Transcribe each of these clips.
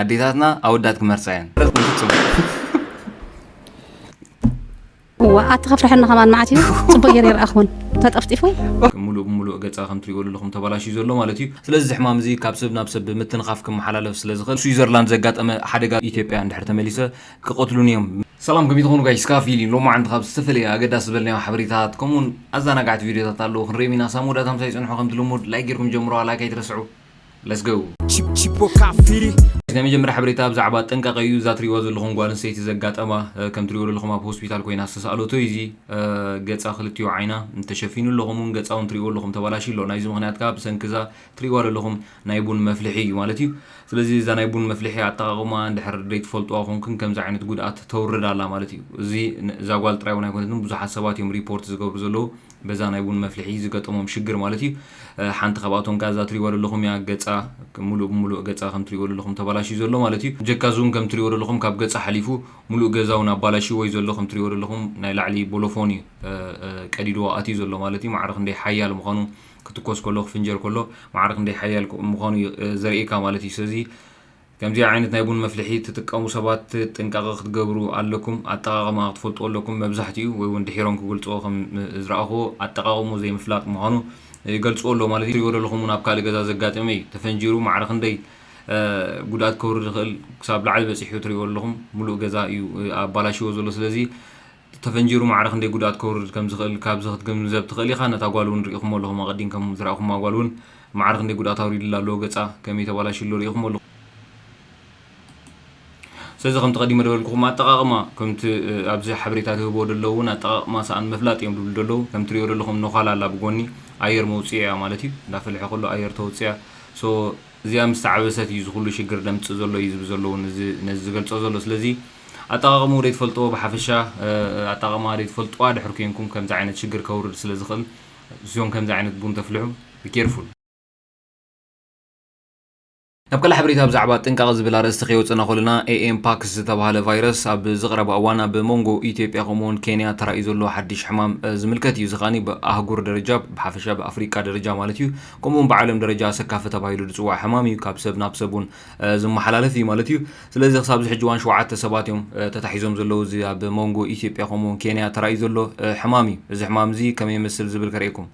ኣዴታትና ኣወዳት ክመርጻ እየን ረት እዋ ኣቲ ከፍርሐኒ ከማን መዓት እዩ ፅቡቅ ገይረ ይረኣኹን ተጠፍጢፉ ሙሉእ ብሙሉእ ገፃ ከም ትሪእዎ ዘለኹም ተባላሽዩ ዘሎ ማለት እዩ ስለዚ እዚ ሕማም እዚ ካብ ሰብ ናብ ሰብ ብምትንኻፍ ክመሓላለፍ ስለ ዝኽእል ስዊዘርላንድ ዘጋጠመ ሓደጋ ኢትዮጵያ እንድሕር ተመሊሰ ክቐትሉን እዮም ሰላም ከመይ ትኾኑ ጋይስ ካብ ፊሊ ሎማዓንቲ ካብ ዝተፈላለየ ኣገዳሲ ዝበልናዮ ሓበሬታት ከምኡውን ኣዘናጋዕቲ ቪድዮታት ኣለዉ ክንሪኦም ኢና ሳብ መወዳእታ ምሳይ ፅንሑ ከምቲ ልሙድ ላይክ ጌርኩም ጀምሩዋ ላይክ ኣይትረስዑ Let's go! ናይ መጀመርያ ሓበሬታ ብዛዕባ ጥንቃቐ እዩ እዛ ትሪእዋ ዘለኹም ጓል ኣንስተይቲ ዘጋጠማ ከም ትሪእዎ ዘለኹም ኣብ ሆስፒታል ኮይና ዝተሰኣለቶ እዩ እዚ ገፃ ክልቲኡ ዓይና ተሸፊኑ ኣሎ ከምኡውን ገፃ እውን ትሪእዎ ኣለኹም ተባላሽ ኣሎ ናይዚ ምክንያት ከዓ ብሰንኪ እዛ ትሪእዋ ዘለኹም ናይ ቡን መፍልሒ እዩ ማለት እዩ ስለዚ እዛ ናይ ቡን መፍልሒ ኣጠቃቕማ እንድሕር ዘይትፈልጡዋ ኮንክን ከምዚ ዓይነት ጉድኣት ተውርድ ኣላ ማለት እዩ እዚ እዛ ጓል ጥራይ እውን ኣይኮነትን ብዙሓት ሰባት እዮም ሪፖርት ዝገብሩ ዘለዉ በዛ ናይ ቡን መፍልሒ ዝገጠሞም ሽግር ማለት እዩ። ሓንቲ ካብኣቶም ከኣ እዛ ትሪእዋ ዘለኹም እያ። ገጻ ምሉእ ብምሉእ ገጻ ከም ትሪእዎ ዘለኹም ተባላሽዩ ዘሎ ማለት እዩ። ብጀካ እዚውን ከም ትሪእዎ ዘለኹም ካብ ገጻ ሓሊፉ ምሉእ ገዛ እውን ኣባላሽይዎ እዩ ዘሎ። ከም ትሪእዎ ዘለኹም ናይ ላዕሊ ቦሎፎን እዩ ቀዲድዎ ኣትዩ ዘሎ ማለት እዩ። ማዕረ ክንደይ ሓያል ምዃኑ ክትኮስ ከሎ ክፍንጀር ከሎ ማዕረ ክንደይ ሓያል ምዃኑ እዩ ዘርእየካ ማለት እዩ። ስለዚ ከምዚ ዓይነት ናይ ቡን መፍልሒ ትጥቀሙ ሰባት ጥንቃቀ ክትገብሩ ኣለኩም ኣጠቃቅመኣ ክትፈልጥዎ ኣለኩም መብዛሕቲኡ ወይ ውን ድሒሮም ክግልጽዎ ከም ዝረኣክዎ ኣጠቃቅምኡ ዘይምፍላጥ ምኳኑ ይገልጽዎ ኣለዉ ማለት ትሪእዎ ደለኩም ውን ኣብ ካልእ ገዛ ዘጋጥም ኢዩ ተፈንጂሩ ማዕረ ክንደይ ጉድኣት ከውርድ ይክእል ክሳብ ላዕሊ በጺሑ ትሪእዎ ኣለኩም ምሉእ ገዛ ኢዩ ኣባላሽዎ ዘሎ ስለዚ ተፈንጂሩ ማዕረ ክንደይ ጉድኣት ከውርድ ከም ዝኽእል ካብዚ ክትግንዘብ ትኽእል ኢኻ። ነታ ጓል እውን ርኢኹሞ ኣለኹም፣ ኣቐዲምከም ዝረኣኹማ ጓል እውን ማዕረ ክንደይ ጉድኣት ኣውሪድላ ኣሎ፣ ገጻ ከመይ ተባላሽዩ ኣሎ ርኢኹሞ ኣለኹም። ስለዚ ከምቲ ቀዲመ ደበልኩኹም ኣጠቓቕማ ከምቲ ኣብዚ ሓበሬታ ዝህብዎ ደለዉ እውን ኣጠቓቕማ ሰኣን ምፍላጥ እዮም ድብሉ ደለዉ። ከም ትሪኦ ደለኹም ነዃል ኣላ ብጎኒ ኣየር መውጺኦ እያ ማለት እዩ። እንዳ ፈለሐ ከሎ ኣየር ተውጽያ so እዚኣ ምስ ተዓበሰት እዩ እዚ ኩሉ ሽግር ደምጽእ ዘሎ እዩ ዝብ ዘሎ እውን እዚ ነዚ ዝገልጾ ዘሎ ስለዚ ኣጠቓቕምኡ ደይትፈልጥዎ ብሓፈሻ ኣጠቓቕምኣ ደይትፈልጥዋ ድሕር ኮንኩም ከምዚ ዓይነት ሽግር ከውርድ ስለ ዝኽእል ስዮም ከምዚ ዓይነት ቡን ተፍልሑ be careful። ናብ ካልእ ሓበሬታ ብዛዕባ ጥንቃቐ ዝብል ኣርእስቲ ከይወጸና ኮለና ኤኤም ፓክስ ዝተባሃለ ቫይረስ ኣብ ዝቕረባ እዋን ኣብ ሞንጎ ኢትዮጵያ ከምኡውን ኬንያ ተራእዩ ዘሎ ሓድሽ ሕማም ዝምልከት እዩ። እዚ ከኣ ብኣህጉር ደረጃ ብሓፈሻ ብኣፍሪቃ ደረጃ ማለት እዩ ከምኡውን ብዓለም ደረጃ ኣሰካፊ ተባሂሉ ዝጽዋዕ ሕማም እዩ። ካብ ሰብ ናብ ሰብ እውን ዝመሓላለፍ እዩ ማለት እዩ። ስለዚ ክሳብ እዚ ሕጂ እዋን ሸውዓተ ሰባት እዮም ተታሒዞም ዘለዉ። እዚ ኣብ ሞንጎ ኢትዮጵያ ከምኡ ውን ኬንያ ተራእዩ ዘሎ ሕማም እዩ። እዚ ሕማም እዚ ከመይ ይመስል ዝብል ከርእየኩም።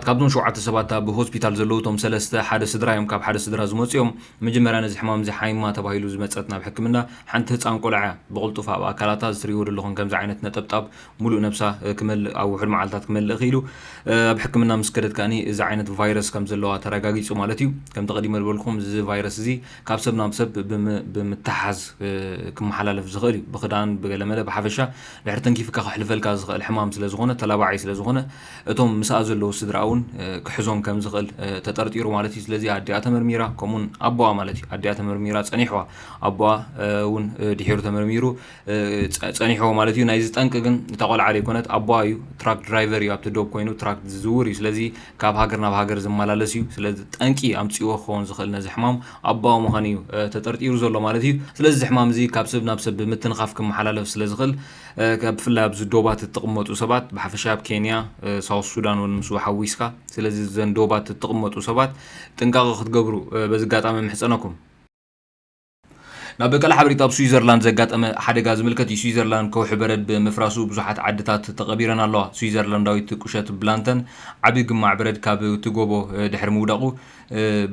ካብዞም ሸውዓተ ሰባት ኣብ ሆስፒታል ዘለዉ እቶም ሰለስተ ሓደ ስድራ እዮም። ካብ ሓደ ስድራ ዝመጹ እዮም። መጀመርያ ነዚ ሕማም እዚ ሓይማ ተባሂሉ ዝመጸት ናብ ሕክምና ሓንቲ ህጻን ቆልዓ እያ። ብቕልጡፍ ኣብ ኣካላታ እዚ ትርእይዎ ደለኹም ከምዚ ዓይነት ነጠብጣብ ምሉእ ነብሳ ክመልእ ኣብ ውሑድ መዓልታት ክመልእ ክኢሉ። ኣብ ሕክምና ምስ ከደት ከኣኒ እዚ ዓይነት ቫይረስ ከም ዘለዋ ተረጋጊጹ ማለት እዩ። ከምቲ ቀዲመ ዝበልኩም እዚ ቫይረስ እዚ ካብ ሰብ ናብ ሰብ ብምትሕሓዝ ክመሓላለፍ ዝኽእል እዩ። ብኽዳን ብገለመለ ብሓፈሻ ድሕሪ ተንኪፍካ ከሕልፈልካ ዝኽእል ሕማም ስለ ዝኾነ ተላባዒ ስለ ዝኾነ እቶም ምስኣ ዘለዉ ስድርኣ እውን ክሕዞም ከም ዝኽእል ተጠርጢሩ ማለት እዩ። ስለዚ ኣዲኣ ተመርሚራ ከምኡውን ኣቦኣ ማለት እዩ ኣዲኣ ተመርሚራ ጸኒሕዋ ኣቦኣ እውን ድሒሩ ተመርሚሩ ጸኒሕዎ ማለት እዩ ናይዚ ጠንቂ ግን እታ ቆልዓ ዘይኮነት ኣቦኣ እዩ ትራክ ድራይቨር እዩ ኣብቲ ዶብ ኮይኑ ትራክ ዝዝውር እዩ ስለዚ ካብ ሃገር ናብ ሃገር ዝመላለስ እዩ ስለዚ ጠንቂ ኣምጽዎ ክኸውን ዝኽእል ነዚ ሕማም ኣቦኣ ምዃኑ እዩ ተጠርጢሩ ዘሎ ማለት እዩ ስለዚ እዚ ሕማም እዚ ካብ ሰብ ናብ ሰብ ብምትንኻፍ ክመሓላለፍ ስለ ዝኽእል ብፍላይ ኣብዚ ዶባት እትቕመጡ ሰባት ብሓፈሻ ኣብ ኬንያ ሳውስ ሱዳን እውን ምስ ሓዊስካ ስለዚ እዘን ዶባት እትቕመጡ ሰባት ጥንቃቐ ክትገብሩ በዚ ኣጋጣሚ ምሕጸነኩም ናብ በቀለ ሓበሪታ ኣብ ስዊዘርላንድ ዘጋጠመ ሓደጋ ዝምልከት እዩ። ስዊዘርላንድ ከውሒ በረድ ብምፍራሱ ብዙሓት ዓድታት ተቐቢረን ኣለዋ። ስዊዘርላንዳዊት ቁሸት ብላንተን ዓቢ ግማዕ በረድ ካብቲ ጎቦ ድሕሪ ምውዳቑ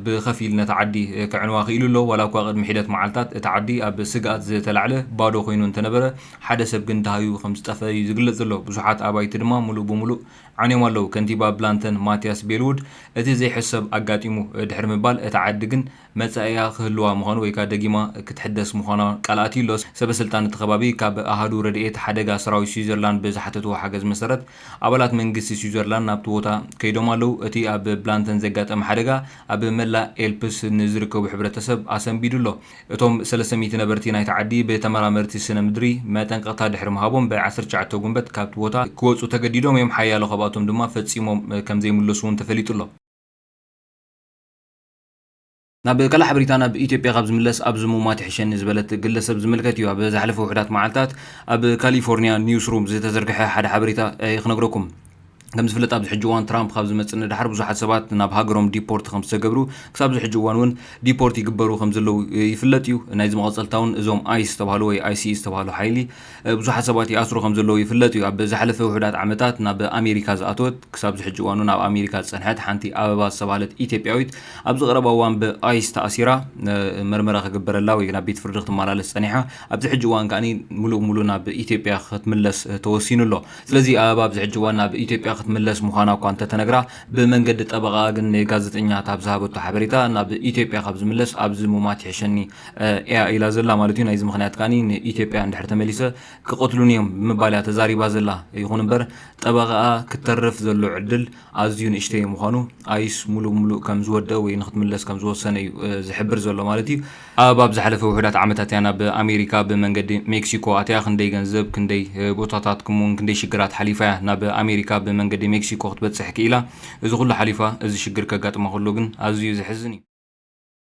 ብኸፊል ነታ ዓዲ ከዕንዋ ክኢሉ ኣሎ። ዋላኳ ቅድሚ ሒደት መዓልታት እቲ ዓዲ ኣብ ስግኣት ዝተላዕለ ባዶ ኮይኑ እንተነበረ ሓደ ሰብ ግን ደሃዩ ከምዝጠፍአ እዩ ዝግለጽ ዘሎ። ብዙሓት ኣባይቲ ድማ ምሉእ ብምሉእ ዓንዮም ኣለዉ። ከንቲባ ብላንተን ማትያስ ቤልዉድ እቲ ዘይሕሰብ ኣጋጢሙ ድሕሪ ምባል እታ ዓዲ ግን መጻኢኣ ክህልዋ ምዃኑ ወይ ከኣ ደጊማ ክትሕደስ ምዃና ቃል ኣትዩ ኣሎ። ሰበስልጣን እቲ ከባቢ ካብ ኣሃዱ ረድኤት ሓደጋ ሰራዊት ስዊዘርላንድ ብዝሓተትዎ ሓገዝ መሰረት ኣባላት መንግስቲ ስዊዘርላንድ ናብቲ ቦታ ከይዶም ኣለዉ። እቲ ኣብ ብላንተን ዘጋጠመ ሓደጋ ኣብ መላእ ኤልፕስ ንዝርከቡ ሕብረተሰብ ኣሰንቢዱ ኣሎ። እቶም ሰለስተ ሚእቲ ነበርቲ ናይታ ዓዲ ብተመራመርቲ ስነ-ምድሪ መጠንቀቕታ ድሕሪ ምሃቦም ብ ዓሰርተ ትሽዓተ ጉንበት ካብቲ ቦታ ክወጹ ተገዲዶም እዮም፣ ሓያሎ ካብኣቶም ድማ ፈጺሞም ከምዘይምለሱ'ውን ተፈሊጡ ኣሎ። ናብ ቀላሕ ብሪታ ናብ ኢትዮጵያ ካብ ዝምለስ ኣብዚ ምሟት ይሕሸኒ ዝበለት ግለሰብ ዝምልከት እዩ። ኣብ ዝሓለፈ ውሑዳት መዓልታት ኣብ ካሊፎርኒያ ኒውስሩም ዝተዘርግሐ ሓደ ሓበሬታ እየ ክነግረኩም። ከም ዝፍለጥ ኣብዚ ሕጂ እዋን ትራምፕ ካብ ዝመጽእ ንደሓር ብዙሓት ሰባት ናብ ሃገሮም ዲፖርት ከም ዝተገብሩ ክሳብ ዝሕጂ እዋን እውን ዲፖርት ይግበሩ ከም ዘለዉ ይፍለጥ እዩ ናይዚ መቐጸልታ እውን እዞም ኣይስ ዝተባህሉ ወይ ኣይሲኢ ዝተባህሉ ሓይሊ ብዙሓት ሰባት ይኣስሩ ከም ዘለዉ ይፍለጥ እዩ። ኣብ ዝሓለፈ ውሑዳት ዓመታት ናብ ኣሜሪካ ዝኣተወት ክሳብ ዝሕጂ እዋን'ውን ኣብ ኣሜሪካ ዝጸንሐት ሓንቲ ኣበባ ዝተባህለት ኢትዮጵያዊት ኣብዚ ቀረባ እዋን ብኣይስ ተኣሲራ መርመራ ክግበረላ ወይ ናብ ቤት ፍርዲ ክትመላለስ ጸኒሓ ኣብዚ ሕጂ እዋን ከኣ ምሉእ ብምሉእ ናብ ኢትዮጵያ ክትምለስ ተወሲኑ ኣሎ። ስለዚ ኣበባ ኣብዚ ሕጂ እዋን ናብ ኢትዮጵያ ክትምለስ ምዃና እኳ እንተተነግራ ብመንገዲ ጠበቓኣ ግን ንጋዜጠኛታት ኣብ ዝሃበቶ ሓበሬታ ናብ ኢትዮጵያ ካብ ዝምለስ ኣብዚ ምሟት ይሕሸኒ እያ ኢላ ዘላ ማለት እዩ። ናይዚ ምኽንያት ከኣ ንኢትዮጵያ እንድሕር ተመሊሰ ክቐትሉኒ እዮም ብምባል እያ ተዛሪባ ዘላ። ይኹን እምበር ጠበቓኣ ክተርፍ ዘሎ ዕድል ኣዝዩ ንእሽተይ ምዃኑ ኣይስ ምሉእ ብምሉእ ከም ዝወደኣ ወይ ንክትምለስ ከም ዝወሰነ እዩ ዝሕብር ዘሎ ማለት እዩ። ኣብ ኣብ ዝሓለፈ ውሑዳት ዓመታት እያ ናብ ኣሜሪካ ብመንገዲ ሜክሲኮ ኣትያ። ክንደይ ገንዘብ፣ ክንደይ ቦታታት ከምኡ'ውን ክንደይ ሽግራት ሓሊፋ እያ ናብ ኣሜሪካ ብመንገዲ ሜክሲኮ ክትበጽሕ ክኢላ። እዚ ኹሉ ሓሊፋ እዚ ሽግር ከጋጥማ ከሎ ግን ኣዝዩ ዘሕዝን እዩ።